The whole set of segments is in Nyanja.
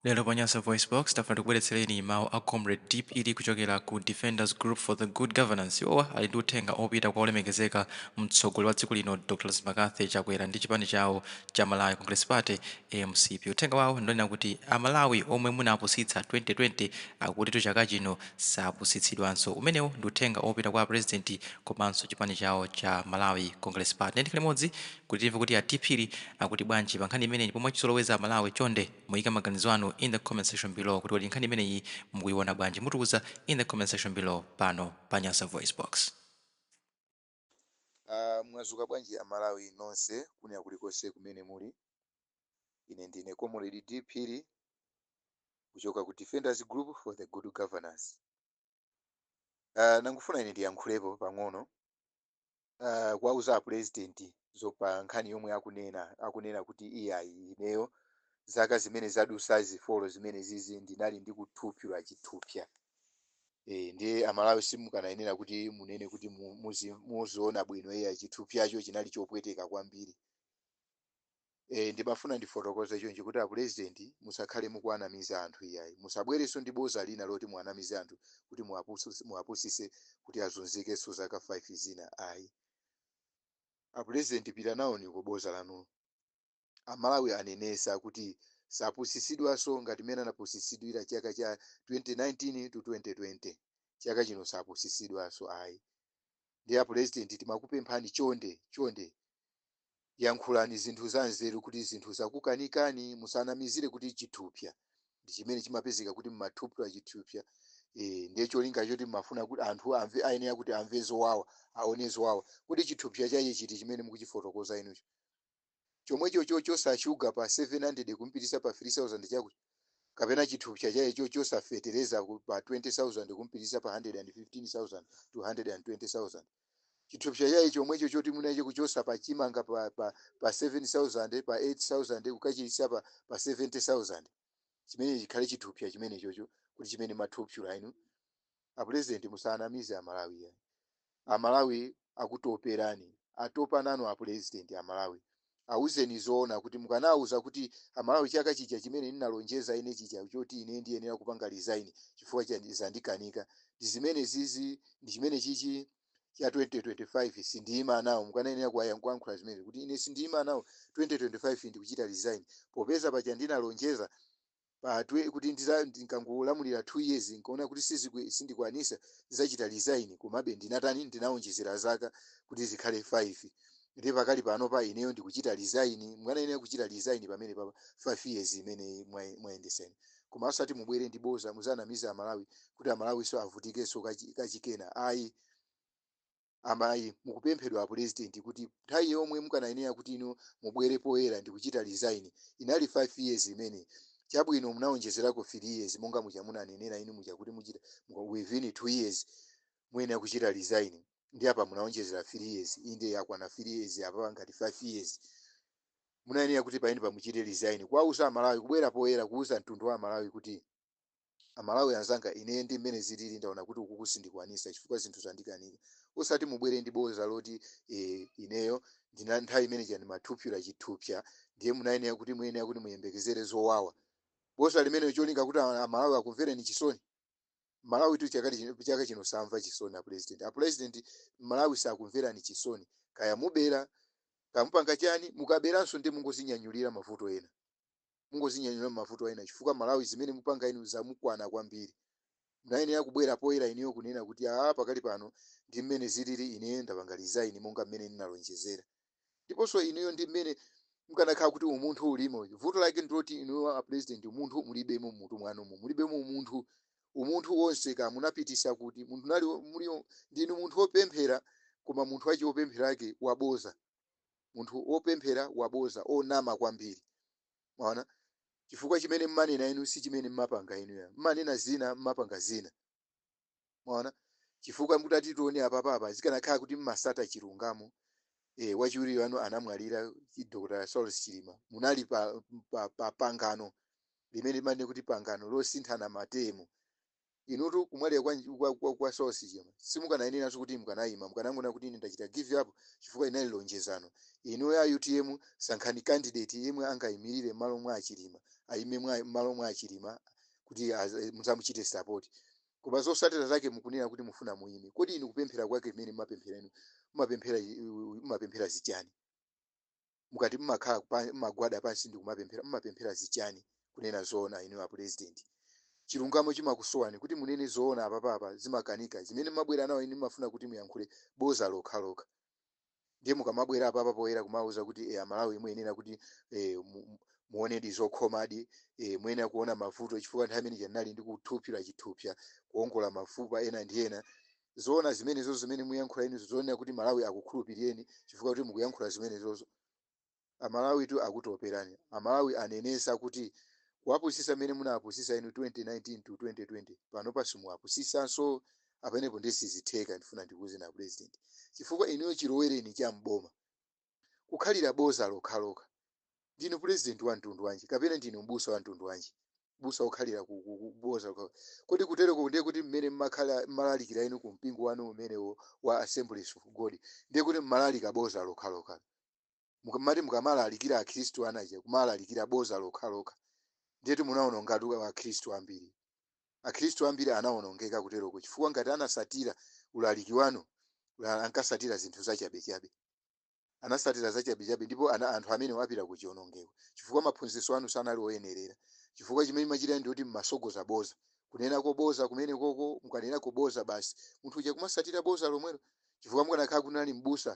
Lero pa Nyasa VoiceBox, tafuna tikubweretsereni mawu a Comrade D. Phiri kuchokera ku Defenders Group for the Good Governance. Iwowa ali ndi uthenga opita kwa olemekezeka mtsogoleri wa dziko lino Dr. McCarthy Chakwera ndi chipani chawo cha Malawi Congress Party, mcp. Uthenga wawo ndi wonena kuti a Malawi omwe munapusitsa 2020 akutitu chaka chino sapusitsidwanso. Umenewu ndi uthenga opita kwa a President komanso chipani chawo cha Malawi Congress Party. Ndiye tikhale limodzi kuti timve kuti a D. Phiri akuti bwanji pa nkhani imeneyi ndipo mwachizolowezi a Malawi chonde Muyike maganizo anu in the comment section below kuti kodi nkhani imeneyi mukuyiwona bwanji? Mutiwuze in the comment section below pano pa Nyasa VoiceBox. Aaa mwazuka bwanji amalawi nonse kunja kulikose kumene muli ine ndine comrade D phiri kuchoka ku defenders group for the good governance Aaa nangufuna ine ndiyankhulepo pang'ono uh, kuwauza apurezidenti za pa nkhani yomwe akunena akunena kuti iyayi ineyo zaka zimene zadusa zifolo zimene zizi ndinali ndikuthupyula chithupya e, ndiye amalawi simukanayenera kuti munene kuti mu- muzi- muziona bwino iyayi chithupyacho chinali chopweteka kwambiri Eee ndimafuna ndifotokoze chonchi kuti apulezidenti musakhale mukuwanamiza anthu iyayi. Musabwerenso ndi boza lina loti muwanamize anthu kuti muwapususe muwapusise kuti azunzikenso zaka 5 zina ayi. Apulezidenti pitani nawoni ku boza lanulo. Amalawi anenesa kuti sapusisidwanso ngati mmene anapusisidwira chaka cha 2019 to 2020. Chaka chino sapusisidwanso ayi. Ndiye apulezidenti timakupemphani chonde chonde Yankhulani zinthu zanzeru kuti zinthu zakukanikani musanamizile kuti chithupya ndichimene chimapezeka kuti mumathupula chithupya ee ndiye cholinga choti mmafuna kuti anthu amve ayenera kuti amve zowawa aone zowawa kodi chithupya chache chiti chimene mukuchifotokoza inucho chomwecho chochosa shuga pa 700 kumpitisa pa 3000 chakuti kapena chithupya chache chochosa fetereza pa 20000 kumpitisa pa 115000 to 120000. chithupsa chake chomwecho choti munacho kuchosa pa chimanga pa, pa, pa 7000 pa 8000 kukachisiya pa, pa 70000 chimene chikhale chithupsa chimenechocho kuti chimene mathupsula inu apulezidenti musanamize amalawi iyayi amalawi akutoperani atopa nanu apulezidenti amalawi Awuzeni zoona kuti mukanawauza kuti a Malawi chaka chija chimene ndinalonjeza ine chija choti ine ndiyenera kupanga resign chifukwa zandikanika ndi zimenezizi ndi chimenechichi cha 2025 sindiyima nawo mukanayenera kuwayan- kuyankhula zimenezi kuti ine sindiyima nawo 2025 ndikuchita resign popeza paja ndinalonjeza pa twe kuti ndiza ndikangolamulira 2 years nkaona kuti sizikwi sindikwanisa zachita resign komabe ndinatani ndinaonjezera zaka kuti zikhale 5 nde pakali panopa ineyo ndikuchita resign mukanayenera kuchita resign pamenepa pa 5 years imeneyi mwa- mwayendetsayi koma osati mubwere ndi boza muzanamize amalawi kuti amalawinso avutikenso kachi- kachikena ayi Amene mukupemphedwa apulezidenti kuti nthawi yomwe mukanayenera kuti inu mubwere poyera ndi kuchita resign, inali 5 years imeneyi. Chabwino, munawonjezerako 3 years monga muja munanenera inu muja kuti muchita, muka, within 2 years muyenera kuchita resign, ndiye apa munawonjezera 3 years, inde yakwana 3 years apapa ngati 5 years. Munayenera kuti pamenepa muchite resign, kuwauza Amalawi, kubwera poyera kuuza mtundu wa Amalawi kuti. A Malawi anzanga ine ndi mmene zilili ndaona kuti ukuku sindikwanisa chifukwa zinthu zandikanika osati mubwere ndi boza loti ee ineyo ndina nthawi imene ija ndimaphula chithupsya ndiye munayenera kuti muyenera kuti muyembekezere zowawa boza limenelo cholinga kuti a Malawi akumvereni chisoni Mmalawitu chakali chino chaka chino samva chisoni a pulezidenti a pulezidenti Mmalawi sakumverani chisoni kaya mubera kaya mupanga chani mukaberanso ndiye mungozinyanyulira mavuto ena mungozinyanyulira mavuto ena chifukwa Mmalawi zimene mupanga inu zamukwana kwambiri munayenera kubwera poyera inuyo kunena kuti aa pakali pano ndi mmene zilili ine ndapanga resign monga mmene ndinalonjezera ndiponso inuyo ndi mmene mkanakhala kuti umunthu ulimo vuto lake ndiloti inuyo a president umunthu mulibemo mmutu mwanumo mulibemo umunthu umunthu wonse ka munapitisa kuti munthu nali mulio ndinu munthu wopemphera koma munthu wake wopemphera wake waboza munthu wopemphera waboza onama kwambiri mwaona chifukwa chimene mmanena inu si chimene mmapanga inu ya mmanena zina mmapanga zina mwaona chifukwa mutati tione apapapa zikanakhala kuti mmatsata chilungamo eh wachiwiri wanu anamwalira chi- Dr. Saulos Chilima munali pa, pa, pa pangano limene limanena kuti pangano losinthana matemu Inutu kumwalira kwa, kwa, kwa, kwa Saulos Chilima simukanayeneranso kuti mukanaima, mukanangonena kuti ine ndachita give up chifukwa linali lonjezano. Inuyo a utm sankhani candidate yemwe angaimilire mmalo mwa a Chilima, aime mwa, mmalo mwa a Chilima kuti az, mudzamuchite support. Koma zotsatira zake mukunena kuti mufuna muime, kodi inu kupemphera kwake mmene mmapemphera inu mmapemphera, mmapemphera zichani? mukati mmakhala pa- mmagwada pansi ndi kumapemphera mmapemphera zichani kunena zoona inuyo apulezidenti chilungamo chimakusowani kuti munene zoona apapapa zimakukanikani zimene mmabwera nazo inu mmafuna kuti muyankhule boza lokhalokha ndiye mukamabwera apapa poyera kumauza kuti e, amalawi muyenera kuti e, mu, mu- muonedi zokhomadi e, muyenera kuona mavuto chifukwa nthawi imene ija ndinali ndikuphula chithupsya kuongola mafupa ena ndi ena zoona zimenezozo zimene muyankhula inuzo zoonera kuti malawi akukhulupirireni chifukwa kuti mukuyankhula zimenezozo amalawitu akutoperani amalawi anenesa kuti kuwapusisa mmene munawapusisa inu 2019 to 2020 panopa simuwapusisanso apenepo ndiye sizitheka ndifuna ndikuwuzeni a president chifukwa inuyo chilowereni cha mboma kukhalira boza lokhalokha. Ndinu pulezidenti wa mtundu wanji? Kapena ndinu m'busa wa mtundu wanji? M'busa wokhalira ku, ku, ku boza lokhalokha. Kodi kuteroko ndiye kuti mmene mmakhala mmalalikira inu ku mpingo wanu umenewo wa Assemblies of God, ndiye kuti mmalalika boza lokhalokha? Mukamati mukamalalikira Akhristu anu aja kumalalikira boza lokhalokha, ndiyetu munawonongatu Akhristu ambiri. Akhristu ambiri anawonongeka kuteroko chifukwa ngati anasatira ulaliki wanu, ankasatira zinthu zachabechabe. Anasatira zachabechabe ndipo anthu amenewo apita kuchionongeko chifukwa maphunzitso anu sanali oyenerera chifukwa chimene machita ndi choti mmasogoza boza kunenako boza kumenekoko mukanena boza basi munthu uja kumasatira boza lomwelo chifukwa mukanakhala kuti munali m'busa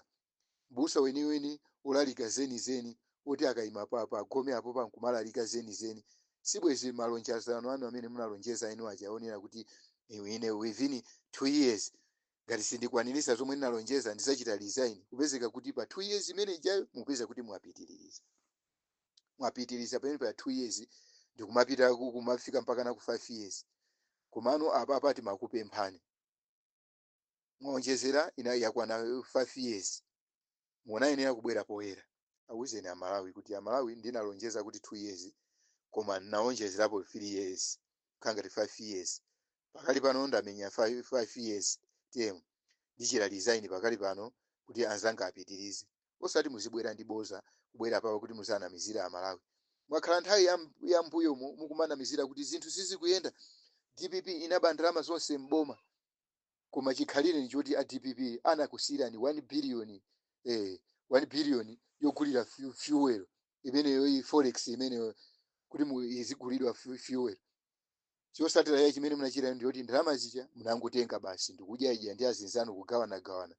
m'busa weniweni olalika zeni zeni oti akaima pa pa gome apopa nkumalalika zeni zeni sibwezi malonjezano anu amene munalonjeza inu aja onena kuti ine within 2 years Ngati sindikwanilisa zomwe ndinalonjeza ndizachita resign kupezeka kuti pa 2 years imene ijayo mukupezeka kuti mwapitililiza mwapitiliza pamene pa 2 years ndikumapita kumafika mpakana ku 5 years komano apapa timakupemphani mwaonjezera ina yakwana 5 years munayenera kubwera poyera awuzeni amalawi kuti amalawi ndinalonjeza kuti 2 years koma nawonjezerapo 3 years kukhala ngati 5 years pakali pano ndamenya 5, 5 years term ndichita resign pakali pano kuti anzanga apitirize osati muzibwera ndi boza kubwera papa kuti muzanamizira amalawi mwakhala nthawi ya, ya mbuyomo mukumanamizira kuti zinthu sizikuyenda dpp inaba ndalama zonse m'boma koma chikhalire ndi choti a dpp anakusiyirani 1 billion eh, 1 billion yogulira fu- fuel imeneyo iyi forex imeneyo kuti mu- izigulidwa fu- fuel chosatira ya chimene munachita ndi yoti ndalama zija munangotenga basi ndikudyaidya ndi azinzanu kugawanagawana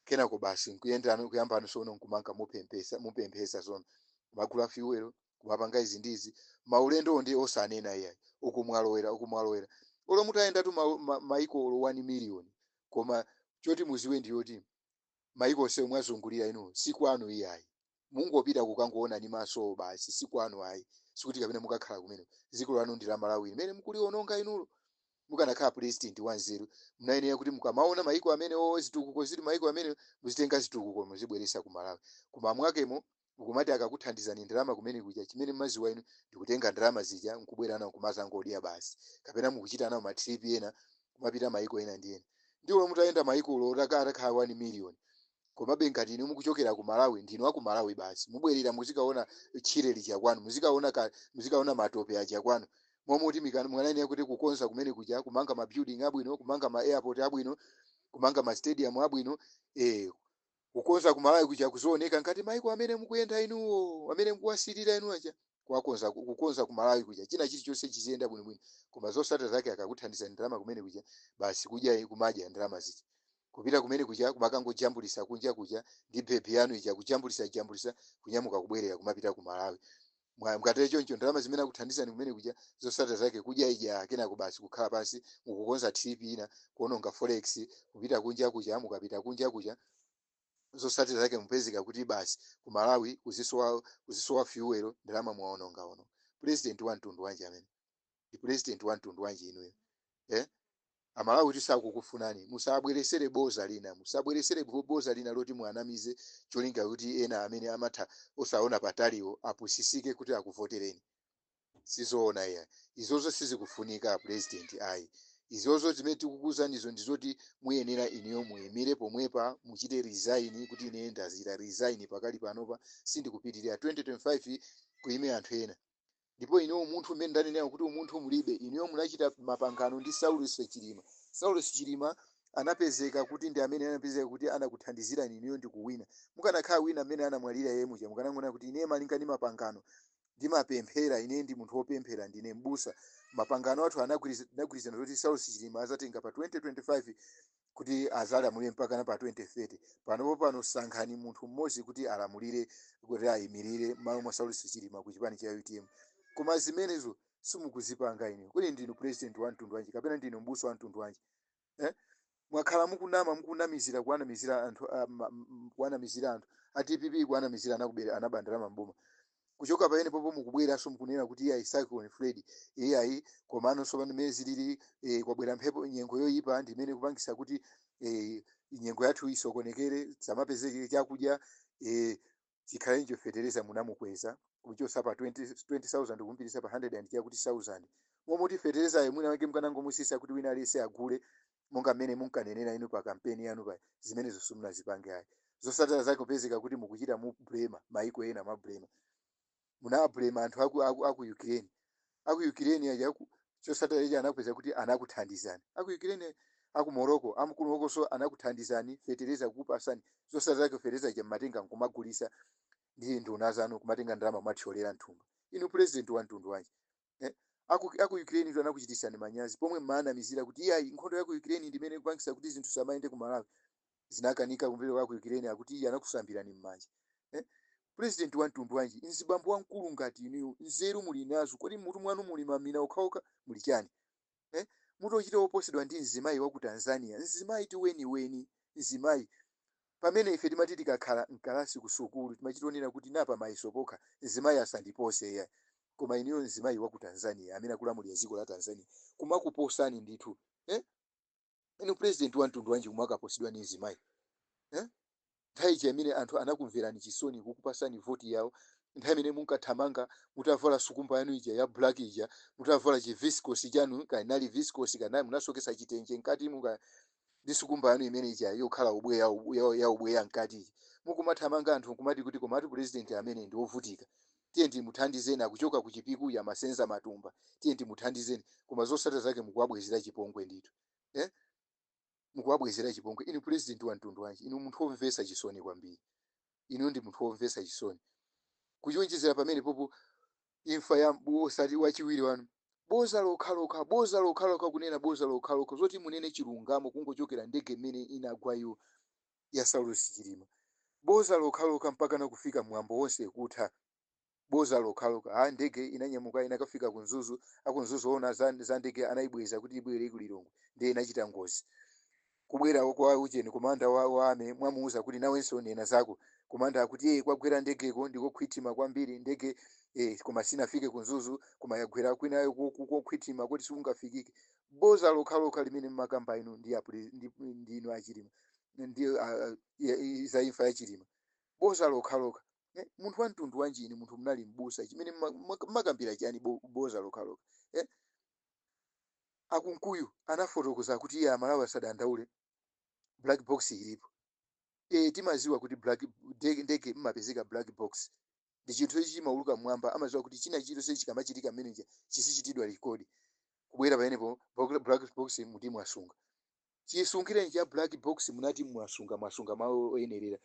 kenako basi kuyambano sono nkumangopemphetsapemphetsa sono mmagula fuel kumapanga izi ndi izi maulendowo ndiye osanena iyayi uku mwalowera uku mwalowera olo mutayendatu ma, ma, maiko olo 1 miliyoni koma choti muziwe ndiyoti maiko onsewo mwazungulira inu si kwanu iyayi mungopita kukangoona ni masowo basi si kwanu ayi sikuti kapena mukakhala kumeneko dziko lanu ndi la malawi limene mukuliononga inulo mukanakhala president wanzeru munayenera kuti mukamaona maiko amenewo zitukuko zili m'maiko amenewo muzitenga zitukuko muzibweresa ku malawi koma mwakemo ukumati akakuthandizani ndalama kumene kuja chimene mmaziwa inu ndikutenga ndalama zija nkubwera nawo kumazangodya basi kapena mukuchita nawo matrip ena kumapita maiko ena ndi ena ndiwo mutayenda maiko ulo otaka- atakhala 1 million komabe ngati inu mukuchokera ku malawi ndinu aku malawi basi mubwerera muzikaona tchire lija kwanu muzikaona ka- muzikaona matope aja kwanu momoti mikana- mukanayenera kuti kukonza kumeneku kuja kumanga ma building abwino kumanga ma airport abwino kumanga ma stadium abwino eh Kukonza ku Malawi kuja kuzioneka ngati maiko amene mukuyenda inuwo, amene mukuwasilira inu aja. Kuwakonza, kukonza ku Malawi kuja, china chilichonse chiziyenda bwinobwino. Koma zosata zake akakuthandizani ndalama kumene kuja, basi kudya, kumadya ndalama zija. Kupita kumene kuja kumakangojambulisa kunja kuja ndi bhebhi yanu ija kujambulisa jambulisa kunyamuka kubwerera kumapita ku Malawi. Mwa- mukatero choncho ndalama zimene akuthandizani kumene kuja zosatira zake kudyaidya kenako basi kukhala pansi mukukonza trip ina kuononga forex kupita kunja kuja mukapita kunja kuja zosatira zake mupezeka kuti basi ku malawi kuzisowa kuzisowa fuel ndalama mwaonongaononga president wa mtundu wanji amene ndi president wa mtundu wanji inuyo eh? amalawitu sakukufunani musabweresere boza lina musabweresere bo- boza lina loti muanamize cholinga kuti ena amene amatha osaona pataliwo apusisike kuti akuvotereni sizoona iya izozo sizikufunika apresident ayi izozo zimene tikukuuzanizo ndizoti muyenera inuyo muyimire pomwepa muchite resign kuti ine ndachita resign pakali panopa sindikupitirira 2025 kuyime anthu ena ndipo ine umunthu mmene ndanenera kuti umunthu mulibe inuyo munachita mapangano ndi saulos chilima saulos chilima anapezeka kuti ndi amene anapezeka kuti anakuthandizirani inuyo ndi kuwina mukanakhala wina mmene anamwalira iyeyo muja mukanangonena kuti ine malinga ndi mapangano ndimapemphera ine ndi munthu wopemphera ndine mbusa mapangano athu anagwiriz- anagwirizana zoti saulos chilima azatenga pa 2025 kuti azalamulire mpakana pa 2030 panopo pano sankhani munthu mmodzi kuti alamulire kuti ayimirire mmalo mwa saulosi chilima ku chipani cha utm koma zimenezo simukuzipanga inuyo kodi ndinu president wa mtundu wanji kapena ndinu mbusa wa mtundu wanji eh? mwakhala mukunama mukunamizira kuwanamizira anthu ah, ma- m- kuwanamizira anthu a dpp kuwanamizira anakubera anaba ndalama mboma kuchoka pamenepopo mukubweranso mukunena kuti iyayi cyclone freddy iyayi komano tsopano mmene zilili eh, kwabwera mphepo nyengo yoyipa ndi imene ikupangisa kuti eh, nyengo yathu isokonekere zamapezeke chakudya eh, zikhale ncho fetereza munamukweza kuchosa pa 20 20000 kumpitisa pa 100 and chakuti 1000 momoti feterezayo mwina wake mkanangomusisa kuti wina aliyese agule monga mmene munkanenera inu pa kampeni yanu paja, zimenezo simunazipange ayi. Zosatira zake kupezeka kuti mukuchita kublema maiko ena mwablema. Munawablema anthu aku, aku, aku Ukraine. Aku Ukraine aja ku- chosatira ichi anapezeka kuti anakuthandizani. Aku Ukraine aku Morocco amkulukoso anakuthandizani fetereza kukupasani. Zosatira zake fetereza ija mmatenga nkumagulisa ndi nduna zanu kumatenga ndalama kumathyolera mthumba. Inu president wa mtundu wanji? eh, aku, aku Ukraine tu anakuchititsani manyazi pomwe mmawanamizira kuti iyayi nkhondo ya ku Ukraine ndi imene ikupangitsa kuti zinthu zisamayende ku Malawi zinakanika kumvera kwa ku Ukraine akuti iye anakusambirani mmanja eh? President wa mtundu wanji mzibambo wamkulu ngati inuyo nzeru muli nazo kodi mutu mwanu muli mamina okhaokha muli chani eh, mutu ochita woposedwa ndi mzimayi wa ku Tanzania, mzimayi tu weniweni, mzimayi pamene ife timati tikakhala mkalasi ku sukulu timachita onena kuti apa mayeso pokha mzimayi asandipose ya koma inuyo mzimayi wa ku Tanzania amene akulamulira dziko la Tanzania kumakuposani ndithu eh? inu president wa mtundu wanji kumakaposedwa ndi mzimayi eh? nthawi ija imene anthu anakumverani chisoni kukupasani voti yawo nthawi imene munkathamanga mutavala sukumba yanu ija ya black ija mutavala chiviscosi chanu kaya ndi viscosi kaya munasokesa chitenje mkati mwake ndi sukumba yanu imene ija yokhala ubweya ubu- ya- ya ubweya mkati ija mukumathamanga anthu nkumati kuti komatu president amene ndi wovutika Tiyeni timuthandizeni akuchoka ku chipiku uyu amasenza matumba tiyeni timuthandizeni koma zosatira zake mukuwabwezera chipongwe ndithu eh? mukuwabwezera chipongwe inu president wa mtundu wanji inu munthu womvetsa chisoni kwambiri inu ndi munthu womvetsa chisoni kuonjezera pamene popo imfa ya mbu- osati wachiwiri wanu boza lokhalokha boza lokhalokha kunena boza lokhalokha zoti munene chilungamo kungochokera ndege imene inagwa iwo ya Saulosi Chilima boza lokhalokha mpakana kufika mwambo wonse kutha boza lokhalokha ha ndege inanyamuka inakafika ku Mzuzu aku Mzuzu oona za, za ndege anaibweza kuti ibwere ku Lilongwe ndiye inachita ngozi kubwera kwa ujeni komanda wa, wa army mwamuuza kuti nawenso nena zako komanda akuti ee kwagwera ndegeko ndikokhwithima kwambiri ndege eh, koma sinafike ku Mzuzu koma yagwera kwinako ko- ko- kokhwithima kuti sikungafikike boza lokhalokha limene mmakamba inu ndi apre- ndi- ndi inu a Chilima ndi ah, ah, ya- i- za imfa ya Chilima boza lokhalokha eh, munthu wa mtundu wanji inu munthu munali mbusa chimene mma- mma- mmakambira chani bo- boza lokhalokha eh, a Kunkuyu anafotokoza kuti iye aMalawi asadandaule black box ilipo e, timaziwa kuti black ndege ndege mmapezeka black box ndi chinthu ichi chimauluka mmwamba amaziwa kuti china chilichonse chikamachitika mmenemuja chizichitidwa record kubwera pamenepo black black box muti mwaisunga Chisungireni cha black box munati mwasunga mwasunga malo oyenerera.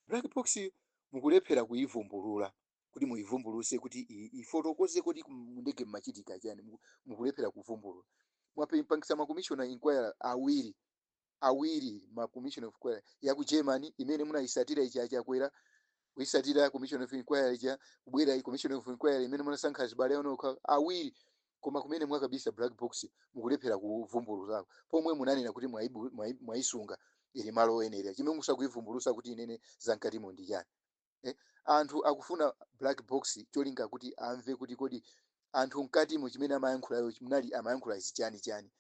Black box yi mukulephera kuyivumbulula kuti muyivumbuluse kuti ifotokoze kodi mu ndege mmachitika chani mukulephera kuvumbulula. Mwapangisa ma commission of enquiry awiri awiri ma commission of enquiry ya ku German imene munayisatira ija ya Chakwera kuisatira commission of inquiry ija kubwera commission of inquiry imene munasankha azibale anu okha awiri koma kumene mwakabisa black box mukulephera kuvumbulusako pomwe munanena kuti mwaibu- mwai- mwaisunga ili malo oyenera chimene simukuivumbulusa kuti inene zamkatimo ndi chani eh? anthu akufuna black box cholinga kuti amve kuti kodi anthu mkatimo chimene amayankhulayo munali amayankhula izi chani chani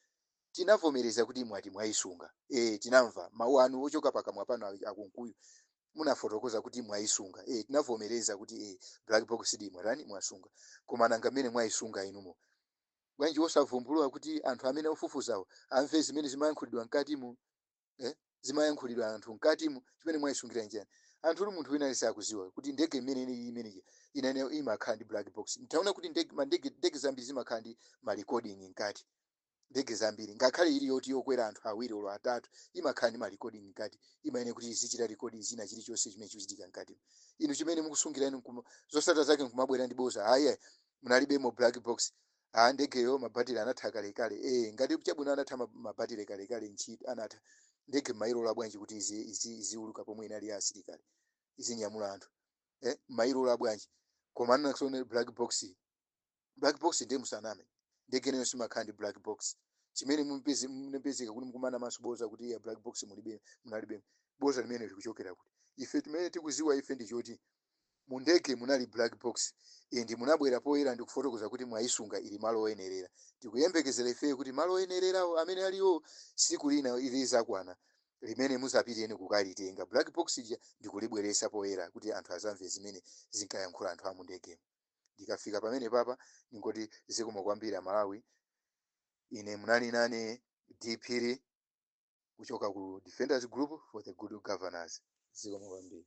Tinavomereza kuti mwati mwaisunga. Eeh tinamva, mau anu ochoka pakamwa panu a a Kunkuyu munafotokoza kuti mwaisunga. Eeh tinavomereza kuti eeh black box ndi mwatani mwasunga. Koma nanga mmene mwaisunga inuyo, bwanji osavumbulula kuti anthu amene ofufuzawo amve zimene zimayankhulidwa mkatimo eeh zimayankhulidwa anthu mkatimo? Chimene mwaisungira nchiyani? Anthutu munthu wina aliyense akudziwa kuti ndege mmene inalili mmene ija inali imakhala ndi black box. Mwaona kuti ndege ma ndege ndege zambiri zimakhala ndi ma recording mkati. Ndege zambiri, ngakhale ili yoti yokwera anthu awiri olo atatu, imakhala ndi ma recording mkati, imayenera kuti izichita record china chili chonse chimene chikuchitika mkatimo. Inu chimene mukusungira inu nkuma, zotsatira zake nkumabwera ndi boza, ah iyayi, munalibemo black box, ah ndegeyo ma battery anatha kalekale, eeh ngati chabwino anatha ma, ma battery kalekale ntchi, anatha, ndege mmailola bwanji kuti izi, izi, iziwuluka pomwe inali ya asilikali, izinyamula anthu, eh, mmailola bwanji? Koma nanso nde black box yi. black box ndiye musaname ndege nayo simakhala ndi black box chimene mumupeze- munapezeka kuti mukunamanso boza kuti ya black box mulibe munalibe boza limene likuchokera kuti ife timene tikuziwa ife ndi choti mu ndege munali black box and munabwera poyera ndi kufotokoza kuti mwayisunga ili malo oyenerera tikuyembekezera ifeyo kuti malo oyenererawo amene aliwo siku lina ilizakwana limene muzapiteni kukalitenga black box ija ndikulibweresa poyera kuti anthu azamve zimene zinkayankhula anthu amundegemo Ndikafika pamenepapa ndingoti zikomo kwambiri Amalawi. Ine munali nane D Phiri kuchoka ku Defenders Group for the Good Governance. Zikomo kwambiri.